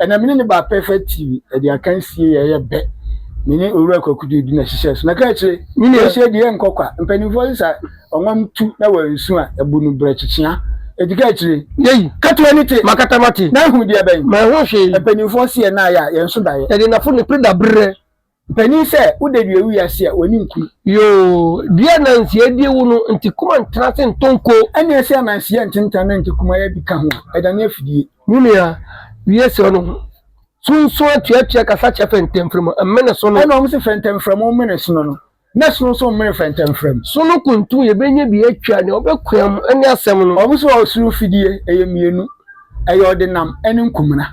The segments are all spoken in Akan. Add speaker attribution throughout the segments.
Speaker 1: Ɛnna me ne no baa Perfect TV, ɛde akansie yɛ yɛ bɛ. Me ne Owura Kwaku de di na hyehyɛ so. Na ka akyire, wɔhyɛ di yɛ nkɔ kwa. Mpanimfoɔ sesa ɔnwam tu na wɔansu a, ɛbu no brɛ kyekyea. Enti ka akyire. Yei. Ka to ani te.
Speaker 2: Makata
Speaker 1: mate. Na ahu deɛ
Speaker 2: bɛn? Manhu
Speaker 1: hwee. Mpanimfoɔ
Speaker 2: se yɛn nan ayɛ a,
Speaker 1: yɛn so da yɛ. Yɛde nnafo ne pere da
Speaker 2: berɛ. Panin sɛ
Speaker 1: wo da dua wi ase a w'ani nkuru. Yoo dua
Speaker 2: nanseɛ die wo no nti kuma ntena ase ntɔ nko. Ɛneɛ sɛ nanseɛ
Speaker 1: ntentan na nti kuma yɛ bi ka ho a ɛdane afidie. Me nua
Speaker 2: wie srɛ no ho sunsun atuatua kasa kyɛ fɛntɛmfrɛmu mmene sono. Ɛna wɔn se fɛntɛmfrɛmu
Speaker 1: mmene sono no na sono nso mmene fɛntɛmfrɛmu. Sono kuntu
Speaker 2: yɛbɛnya bi atwa nea ɔbɛkoam ne asɛm no. Wɔn se ɔsoro fidie
Speaker 1: ɛyɛ mmienu ɛyɛ ɔdenam ɛne nkumena.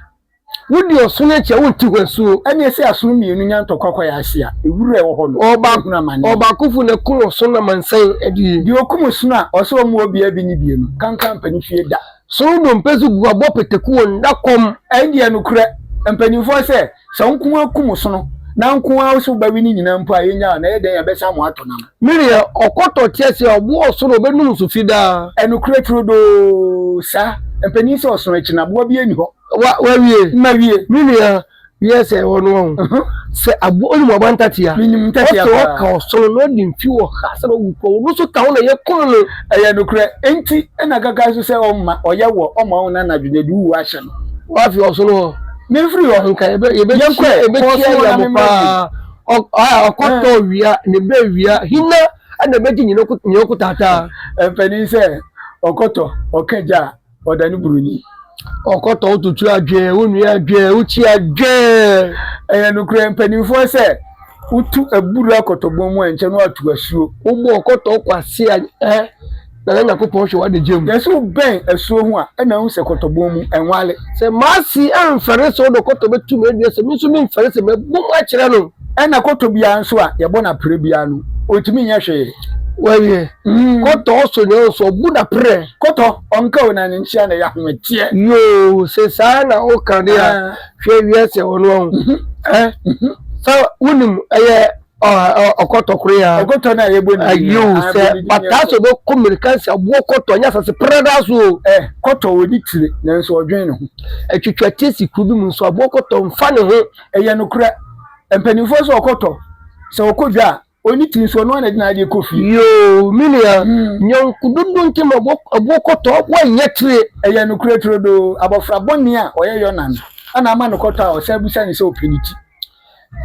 Speaker 1: Wodi
Speaker 2: ɔsono akyi a, wonte hɔ asuo. Ɛnneɛ sɛ asono mmienu
Speaker 1: nya ntɔkwa kɔ yɛn ase a, ewura a ɛwɔ hɔ no, yɛbɛhunu amane. Ɔbaakofo
Speaker 2: na ɛko ɔsono amansan adie. Deɛ ɔkum ɔsono a,
Speaker 1: ɔsɛ ɔmmoa obiara bi ne bie no, kanka ampa ne fie da. Sono dompe so
Speaker 2: gu abɔ pataku wɔ nna kɔm. Ɛndeɛ nokorɛ,
Speaker 1: mpanimfoɔ sɛ, sɛ wo nko ara kum ɔsono, na nko ara wo sɛ wobɛwe ne nyinaa mpo a, yɛnnyaa wo, na ɛyɛ dɛn a, yɛbɛsan mo atɔ nam. Me deɛ ɔkɔtɔ
Speaker 2: kyerɛ sɛ ɔboɔ ɔsoro ɔbɛnum so fi daa. Ɛnokorɛ turodoo
Speaker 1: saa. Mpanin sɛ ɔsono akyi no aboa biara nni hɔ. Wa, wawie?
Speaker 2: Mawie. Me nua,
Speaker 1: wiɛ
Speaker 2: sɛ ɛwɔ no wahu. Uh-huh. Sɛ aboɔ, wonim aboa ntatea? Menim ntatea paa. Ɔsɛ ɔka
Speaker 1: ɔsono na
Speaker 2: ɔde mfi wɔ ha sɛ ɔwu kɔ, ɔno nso ka ho na yɛkum no. Ɛyɛ nokorɛ.
Speaker 1: Enti na kaka nso sɛ ɔmma, ɔyɛ wɔ, ɔmma wo nna anadwo na ɛde wo wuo ahyɛ no. Wafi ɔsono hɔ.
Speaker 2: Memfiri hɔ. Nka
Speaker 1: yɛbɛ, yɛbɛkyia,
Speaker 2: yɛbɛkyia yɛ mo paa. Ɔkɔtɔ wia ne bɛ wia hina na ɛbɛgye nyina ɔko taataa. Mpanin sɛ
Speaker 1: ɔkɔtɔ ɔka gya a ɔda ne buroni. Ɔkɔtɔ
Speaker 2: wototo adwɛɛ wo nua adwɛɛ wo kyi adwɛɛ. Ɛyɛ nokorɛ
Speaker 1: mpanimfoɔ sɛ wotu aburo akɔtɔbɔn mu a nkyɛ no atu asuo. Wobɔ ɔkɔtɔ kɔ
Speaker 2: ase a ɛ. na na Nyankopɔn hwɛ w'adagya mu. Na sɛ wobɛn asuo
Speaker 1: ho a, ɛna wohu sɛ kɔtɔbɔn mu, ɛnwale. Sɛ m'ase
Speaker 2: amfɛre sɛ ɔdɔ kɔtɔ bɛtu me adua, sɛ me nso memfɛre sɛ mɛbɔ mu akyerɛ no. Ɛna kɔtɔ biara
Speaker 1: nso a yɛbɔ no aprɛ biara no, ɔntumi nyɛ hwee. Wawie.
Speaker 2: Mm. Kɔtɔ ɔsɔ nyɛ ɔsɔ, ɔbu no aprɛ. Kɔtɔ ɔnka o
Speaker 1: na ne nkyea na ɛyɛ ahometeɛ. Yoo, sɛ
Speaker 2: saa na woka de a, ah. hwɛ wiase a wɔno ɔho. Mm -hmm. Eh? Mm -hmm. Sɛ wonim ɛyɛ. ɔkɔtɔ koro ya ɔkɔtɔ na yɛ bɔ ne din
Speaker 1: ayiwo sɛ pata
Speaker 2: so bɛ kɔ mmirika nsa buo kɔtɔ nyɛ asase prada so o. ɛ kɔtɔ wɔ ne
Speaker 1: tire nanso ɔdwen ne ho. atwitwa tie si
Speaker 2: kuro bi mu nso aboɔ kɔtɔ nfa ne ho. ɛyɛ nokorɛ
Speaker 1: mpanimfoɔ sɛ ɔkɔtɔ sɛ ɔkɔ dwa a ɔni ti nso ɔno ana de n'adeɛ kɔ fie. yoo me nua
Speaker 2: hmm. nyɔnko dodo nti ma aboɔ kɔtɔ wɔnyɛ tire. ɛyɛ nokorɛ turodoo
Speaker 1: abɔfra bɔne a ɔyɛ yɔna no ana ama no kɔtɔ a ɔsɛ abusa ne sɛ ɔpɛ ne ti.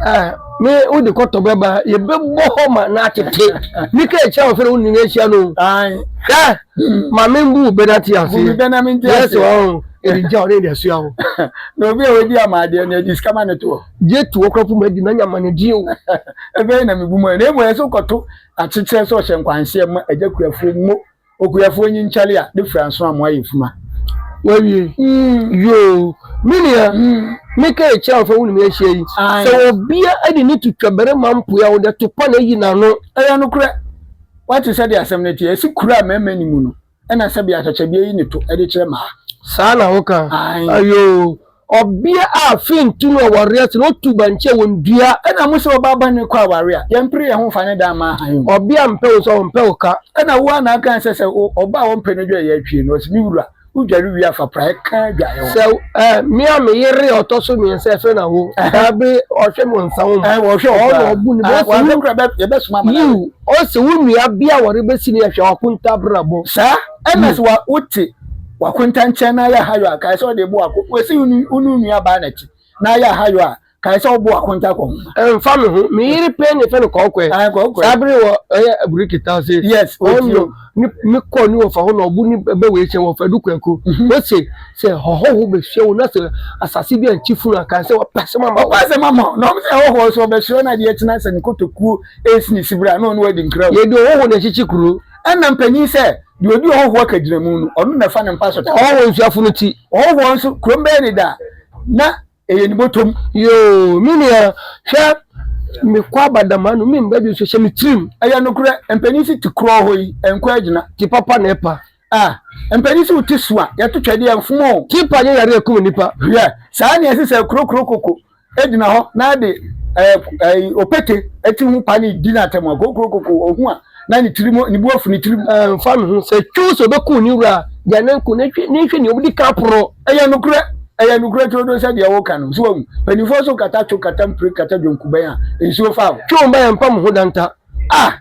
Speaker 1: Ah,
Speaker 2: me wo de kɔtɔ bɛba yɛbɛbɔ hɔ ma na atete ne ka akyia wɔ fɛ no wo nyina ahyia no hwɛ ma membu wo bɛna te ase yɛsɛ
Speaker 1: wɔ ho
Speaker 2: ɛde gya ɔne de asua wo na obi a wɔdi
Speaker 1: ama adeɛ no ɛde sika ma ne toɔ gye to ɔkora fo madi
Speaker 2: na nyama ne deɛ o ɛbɛyɛ na mebu
Speaker 1: mu na mmɔ ɛsɛ wokɔto akyekyerɛ sɛ ɔhyɛ nkwanhyɛ ma agya kuafoɔ mu Okuafoɔ nyi nkyale a ne fura nso amoa yɛ fuma. Wawie
Speaker 2: yoo me nua me ka akyire a wɔfa wone me ahyia yi sɛ ɔbea de ne to twa barima mpoe a ɔde to pa na ayi n'ano. Ɛyɛ nokorɛ
Speaker 1: wate sɛdeɛ asɛm no teɛ ɛse kuro a mmarima nni mu no ɛna sɛbea atwakyɛdeɛ yi ne to de kyerɛ mmaa. Saa na woka
Speaker 2: ayoo. Ɔbea a afei ntu no ɔware ase na otu bankye a wondua. Ɛna mo sɛ ɔbaa bɔne
Speaker 1: kɔ aware a, yɛmpere yɛn ho mfa ne dan mma hann mu. Ɔbea a mpɛ wo nso ɔmpɛ
Speaker 2: wo ka. Ɛna wo ara na aka sɛ
Speaker 1: sɛ ɔbaa a wɔmpɛ no dwareɛ atwie no, ɔse, Me wura, wodware wie a fa praeɛ ka adwareɛ ho. Sɛ eh, me a
Speaker 2: me yere a ɔtɔ so mmiɛnsa ɛfɛ na wo daa bere ɔhwɛ me ɔnsa wo mu. Eh, ɔhwɛ wo koraa. Ɔna ɔbu
Speaker 1: ne bɛ. Ɔse
Speaker 2: wo kura
Speaker 1: yɛbɛsoma ama no awe. Yiw, ɔse wo
Speaker 2: nua bea a wɔrebɛsi no yɛ hwɛ ɔkontabrabɔ. Saa na sɛ
Speaker 1: wote. W'akonta nkyɛn na ayɛ ahayɔ a, kae sɛ ɔde bo akɔ. W'asi wo ne wo nuabaa no akyi na ayɛ ahayɔ a, kae sɛ ɔbo akonta kɔ ho. Ɛmfa me ho, me
Speaker 2: yere pɛn na yɛfrɛ no Kɔɔkɔɛ. Ae, Kɔɔkɔɛ. Saa bere wɔ ɛyɛ abureki ta se. Yes, ɔti o. Ɔno ne me kɔ ne wɔfa hɔ na ɔbo ne bɛ wei kyɛn wɔfa du kɔɛko. Ose sɛ hɔhɔho bɛhyia wo na sɛ asase bi ankye funu a, kae sɛ wɔpɛ asɛm ama wo. Wɔpɛ asɛm ama wo. Na wɔn sɛ hɔhɔho
Speaker 1: so ɔbɛhyerɛ wo na adeɛ kye na sɛ ne kotokuo ɛresi ne sibire a na ɔne wo adi nkra o. Yɛde ɔhɔho na ɛkyekye
Speaker 2: kuro. Ɛna mpanyin sɛ,
Speaker 1: Deɛ ɔdi ɔhɔhoɔ kagyinamu no, ɔno na ɛfa ne mpa so da. Ɔhɔhoɔ nsuafo no ti.
Speaker 2: Ɔhɔhoɔ nso, kurom
Speaker 1: bɛyɛ ne da, na ɛyɛ ne bɔtɔm. Yoo, me nua,
Speaker 2: hwɛ, mekɔ aba dam ha no, me mma bi nso hyɛ me tirim. Ɛyɛ
Speaker 1: nokorɛ, mpanin si te korɔ
Speaker 2: hɔ yi,
Speaker 1: ɛnkɔ agyina.
Speaker 2: Te
Speaker 1: papa na ɛpa.
Speaker 2: Ah,
Speaker 1: mpanin si wo ti so a, yɛto twɛdeɛ, ɛmfom o. Te pa nyɛ yareɛ a ɛkum
Speaker 2: nnipa. Hwɛ, saa na ɛsɛ
Speaker 1: sɛ ɛkorokoro koko gyina hɔ na de opete ti ho pa ne di n'atɛm a, kokurokoko, ohu a, na ne tirim, ne bu afu ne tirim. Ɛmfa no ho sɛ
Speaker 2: twiw sɛ obekum ne wura a, gyae no nko, na hwɛ, na hwɛ nea obedi kan poro. Ɛyɛ nokorɛ,
Speaker 1: ɛyɛ nokorɛ turodoo sɛ deɛ woreka no. So woahu? Mpanimfoɔ nso kata twiw, kata mpire, kata dwonkubɛn a nsuo fa wo. Twiw mma yɛmpa mo ho
Speaker 2: danta. A,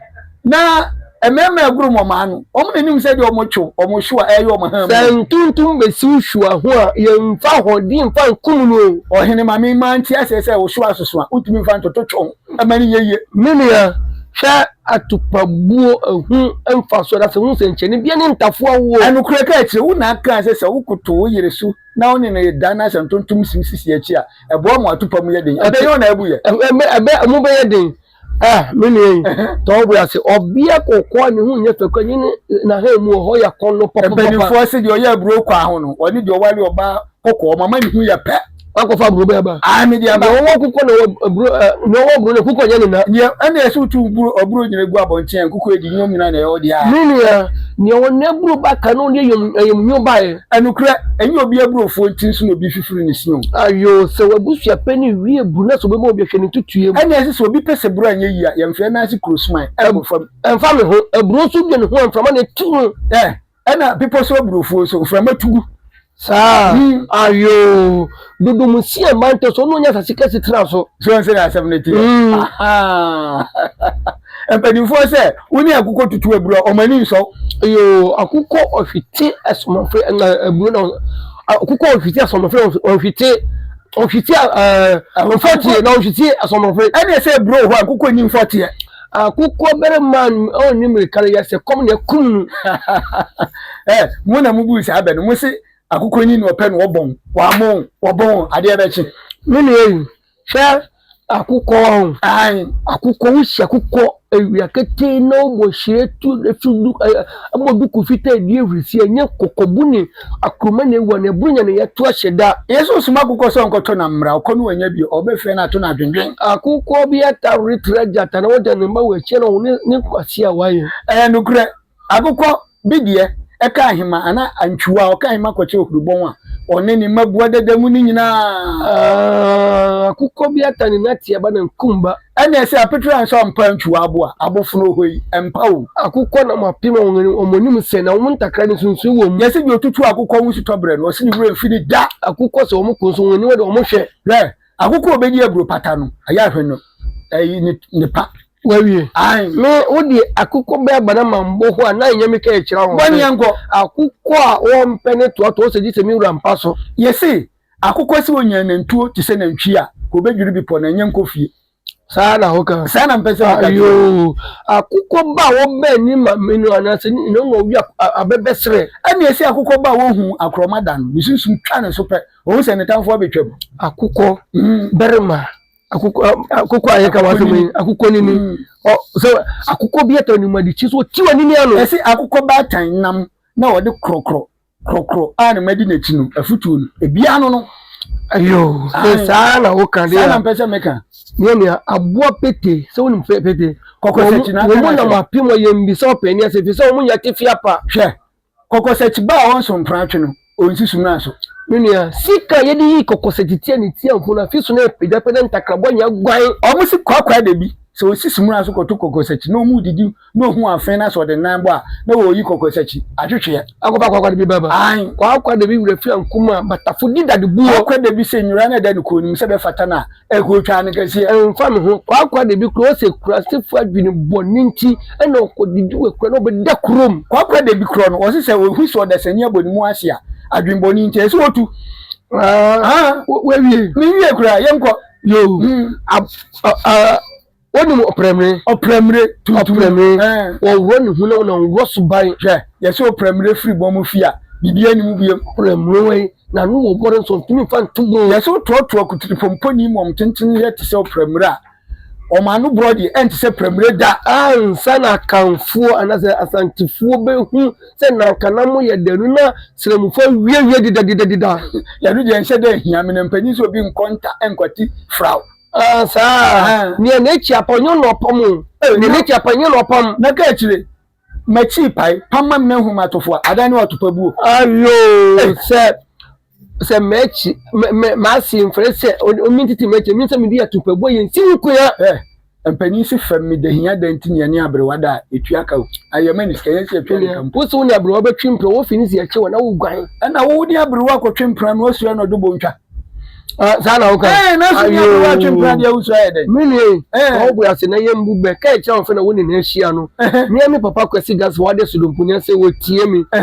Speaker 2: na
Speaker 1: mmarima aguru wɔn ano. Wɔn na nim sɛ deɛ wɔn twe wɔn hyew a ɛyɛ wɔn han mu. Sɛ ntontom bɛsi
Speaker 2: wo hyew ho a, yɛmfa ahoɔden mfa nkum no o. Ɔhene ma me ma nte
Speaker 1: aseɛ sɛ wo hyew asoso a, wotumi mfa ntoto twe ho ɛma no yɛ yie. Me nua,
Speaker 2: hwɛ atupabuo ɛho mfasoɔ na sɛ hu sɛnkyerɛnne biara ne ntafowa woɔ. Nokorɛ ka akyire wo na
Speaker 1: kaa sɛ sɛ wokoto wo yere so na wo ne no reda na sɛ ntontom si wo sisi akyi a, ɛboa ma w'atupam yɛ den. Ɛbɛyɛ wo na abu yɛ. Ɛbɛ, ɛbɛ, ɛmu bɛyɛ
Speaker 2: den. Eh, me nua yi, tɔ wo bo ase. Ɔbea kɔkɔɔ a ne ho nyɛ fɛ kura yi ne n'ahan mu wɔ hɔ yɛ kɔn no papa. Mpanimfoɔ se deɛ ɔyɛ
Speaker 1: aburo kwaa ho no, ɔne deɛ ɔware ɔbaa kɔkɔɔ mama ne ho yɛ pɛ. Wakɔfa aburo bɛɛ ba.
Speaker 2: Ae, mede aba. Deɛ ɔwɔ kɔkɔɔ
Speaker 1: na ɔwɔ aburo,
Speaker 2: deɛ ɔwɔ aburo na kɔkɔɔ nyɛ ne na. Deɛ ɛna ɛsɛ wotu
Speaker 1: aburo aburo nyina gu abɔnten a nkɔkɔɔ adi nyom nyina na ɛwɔ deɛ a. Me nua, deɛ
Speaker 2: ɔwɔ n'aburo ba ka na ɔde ayam ayam nyo baeɛ. Nokorɛ, ɛnyɛ obi
Speaker 1: aburofuo nti nso na obi fifiri ne si o. Ayoo, sɛ w'abusua
Speaker 2: pɛ ne wie bu na sɛ ɔbɛma obi a, hwɛ ne ntutuiɛ mu. Ɛnna ɛsɛ sɛ obi pɛ sɛ
Speaker 1: buro anyɛ yie a, yɛmfrɛ no ase kuro suman nkɔ fam. Ɛmfa me ho, aburo
Speaker 2: nso dwen ho a, mframa na ɛtu no. Ɛ, ɛnna bepɔ
Speaker 1: so aburofuo nso, mframa tu gu. Saa? Hmm.
Speaker 2: Ayoo, dodo mu si ɛmma ntɛ so, ɔno ɔnyɛ asase kɛse tena so. So ɛnsɛ na asɛm no teɛ?
Speaker 1: Hmm. Ahaa. Mpanimfoɔ sɛ wo ne akokɔ tutu aburo a, wɔn ani nsɔ. Yoo, akokɔ
Speaker 2: ɔhwete asomafre na aburo na akokɔ ɔhwete asomafre ɔhwete ɔhwete ɔfɔteɛ na ɔhwete asomafre. Ɛne sɛ aburo hɔ
Speaker 1: akokɔ nyi mfɔteɛ. Akokɔ
Speaker 2: barima a ɔnni mmirika no yɛ sɛ kɔm na ɛkum no.
Speaker 1: Ɛ mo na mo buu saa bɛ no, mo se akokɔ nyi na ɔpɛ na ɔbɔn, wɔamɔn, wɔbɔn, adeɛ bɛkye. Me nua yi,
Speaker 2: Hwɛ akokɔ ɔn. Ae akokɔ wo si akokɔ awia ketee na wobɔ hyire tu ɛso du ɛ ɛbɔ duku fitaa ɛdi ahurisi ɛnyɛ kɔkɔbu ne akruma na ɛwura na ɛboro nya na yɛto ahyɛ da. Yesu soma akokɔ sɛ
Speaker 1: ɔnkɔtɔ nam mmra ɔkɔ no wannya bio ɔbɛfrɛ no ato no adwendwen. Akokɔ bi
Speaker 2: atawere tra gyata na ɔda ne mma wɔ akyire na ɔhunu ne nkwasea a wayɛ. Ɛyɛ nokorɛ
Speaker 1: Agokɔ bi deɛ, ɛka ahema anaa antwiwa a ɔka ahema kɔkyɛ ohurubɔn a ɔne ne mma bua dada mu no nyinaa.
Speaker 2: Akokɔ bi ata ne nateɛ ba na nkum ba. Ɛnneɛ sɛ apetere
Speaker 1: ansa ɔmpa antwiwa abo a, abofono oho yi, ɛmpa o. Akokɔ nam apem
Speaker 2: a wɔn anim sɛ na wɔn ntakra no nsunsuo wɔ mu. Yɛse deɛ ɔtutu akokɔ
Speaker 1: ho sutɔ berɛ no, ɔse ne werɛ mfi no da. Akokɔ sɛ wɔn ko nso,
Speaker 2: wɔn aniwa de wɔn hwɛ. Hwɛ, akokɔ a ɔbɛdi
Speaker 1: aburo pata no, ayɛ ahwɛ no, ɛyi ne pa. Wawie. Ae.
Speaker 2: Me, wo deɛ akokɔ bɛɛ ba na ma mbɔ ho a, na ɛnyɛ me ka ɛkyerɛ wɔn. Bɔneɛ nkɔ.
Speaker 1: Akokɔ a
Speaker 2: wɔmpɛ ne toatoa sɛ gye sɛ me wura mpa so. Yese, akokɔ
Speaker 1: se onya nantuo te sɛ nantwie a, ka obedwiri bepɔ na ɛnyɛ nkɔ fie. Saa na ho ka.
Speaker 2: Saa na mpɛ sɛ ho ka kyerɛ.
Speaker 1: Ayoo.
Speaker 2: Akokɔ ba a wɔbɛn ne mame no anaa sɛ ne nyina ɔma ɔwia abɛbɛ serɛ. Ɛne ɛse akokɔ
Speaker 1: ba a wɔhu akorɔma da no, ne sunsum twa ne so pɛ, ɔhu sɛ ne tamfoɔ abetwam. Akokɔ,
Speaker 2: barima, akokɔ akokɔ a yɛka w'asɛm yi akokɔ nini mm. ɔ sɛ akokɔ bi atɔ anim adi kyi so ɔti wɔ nini ano. ɛsɛ akokɔ baatan
Speaker 1: nam na ɔde korɔkorɔ korɔkorɔ a na madi n'akyi no afutuo no ebi ano no. ayo
Speaker 2: sɛ saa na woka de a saa na mpɛ sɛ meka.
Speaker 1: nyɛ nea aboa
Speaker 2: pete sɛ wonim pete kɔkɔ sɛ kyina wɔn mu
Speaker 1: nam apem ɔyɛ
Speaker 2: mbisa ɔpɛni ase fi sɛ wɔn nyɛ tefia pa. hwɛ
Speaker 1: Kɔkɔsɛkyi ba a ɔnso mpratwe no, onsi sumina so. Me nua, sika
Speaker 2: a yɛde yi kɔkɔsɛkyi tia ne tia ho no, afi so na ɛrepagyapagya ne ntakrabɔ nyɛ guan. Wɔsi kwaakwae da
Speaker 1: bi, sɛ osi sumina so kɔto kɔkɔsɛkyi na wɔredidi na ohu afee na sɛ ɔde nan bɔ a, na wɔreyi kɔkɔsɛkyi atwetweɛ. Akɔpa kwaakwa da bi ba ba.
Speaker 2: Ae. Kwaakwa da bi wura fi ankum a, batafo di dade buo. Kwaakwa da bi sɛ nnwira no
Speaker 1: da ne kɔn no mu sɛ ɛbɛfata no a, Ɛkotwaa no kɛseɛ. Ɛmfa me ho. Kwaakwa
Speaker 2: de bi korɔ sɛ kurasefo adwene bɔne nti na ɔkɔdidi wɔ akura na ɔbɛda kurom. Kwaakwa de bi korɔ no,
Speaker 1: ɔse sɛ ɔhu sɛ ɔdasani abɔ ne mu ase a, adwene bɔne nti, ɛsɛ sɛ ɔtu. Haa,
Speaker 2: wawie. Menwie
Speaker 1: koraa, yɛnkɔ. Yoo,
Speaker 2: a, a, a. wonim ɔprɛmire ɔprɛmire tuntum ɔprɛmire wɔwɔ ne ho na wɔn wɔ so ban hwɛ yɛsɛ ɔprɛmire
Speaker 1: firi bɔ mo fi a biribi anim biem ɔprɛmire wɔ yi
Speaker 2: na no wɔ bɔre nso ntumi fa nto bɔ yɛsɛ ɔtoatoa kutiri
Speaker 1: pɔmpɔni mu wɔn tenten yɛ te sɛ ɔprɛmire a wɔn ano borɔ deɛ ɛnte sɛ prɛmire da ansa na
Speaker 2: akanfoɔ anasɛ asantefoɔ bɛhu sɛ nankana mo yɛ danu na srɛmufoɔ awiawie dedadedadeda yɛno deɛ nhyɛ
Speaker 1: dɛ hia me na mpanyin sɛ obi nkɔ nta nkwati fraw Ah, saa.
Speaker 2: Eh. Nea
Speaker 1: n'akyi
Speaker 2: apɔ nyɛ na ɔpam o. Eh, Nea na- n'akyi apɔ nyɛ na ɔpam. na ka
Speaker 1: akyire
Speaker 2: makyi
Speaker 1: pae pama m na hu matofo a adan ne watopa buo Ayo Eh.
Speaker 2: sɛ sɛ m'akyi mɛ- mɛ- m'ase mfrɛ sɛ o- omi ntete m'akyi mi sɛ mede atupabuo yɛ nsi wo kua. Eh, mpanin
Speaker 1: si fam me dahia dan nti nea ne aberewa da a ɛtua ka o ayɛ ma ne sika yɛn sɛ ɛtua ne ka mpo Wo se wo ne aberewa bɛtwe
Speaker 2: mpira wɔfi ne si akyi wɔ na woguan. ɛna wo ne aberewa
Speaker 1: akɔtwe mpena no asua na ɔdwo bɔ ntwa saa na
Speaker 2: woka ɛɛ na so nyɛ wo atwe
Speaker 1: mpena deɛ wosɔ ayɛ dɛ me nua ma
Speaker 2: wo ase na yɛ mbu bɛ ka ɛkyɛ wo fɛ na wo ne na ahyia no mea me papa kwasi gas wade sodompo nya sɛ wɔtie me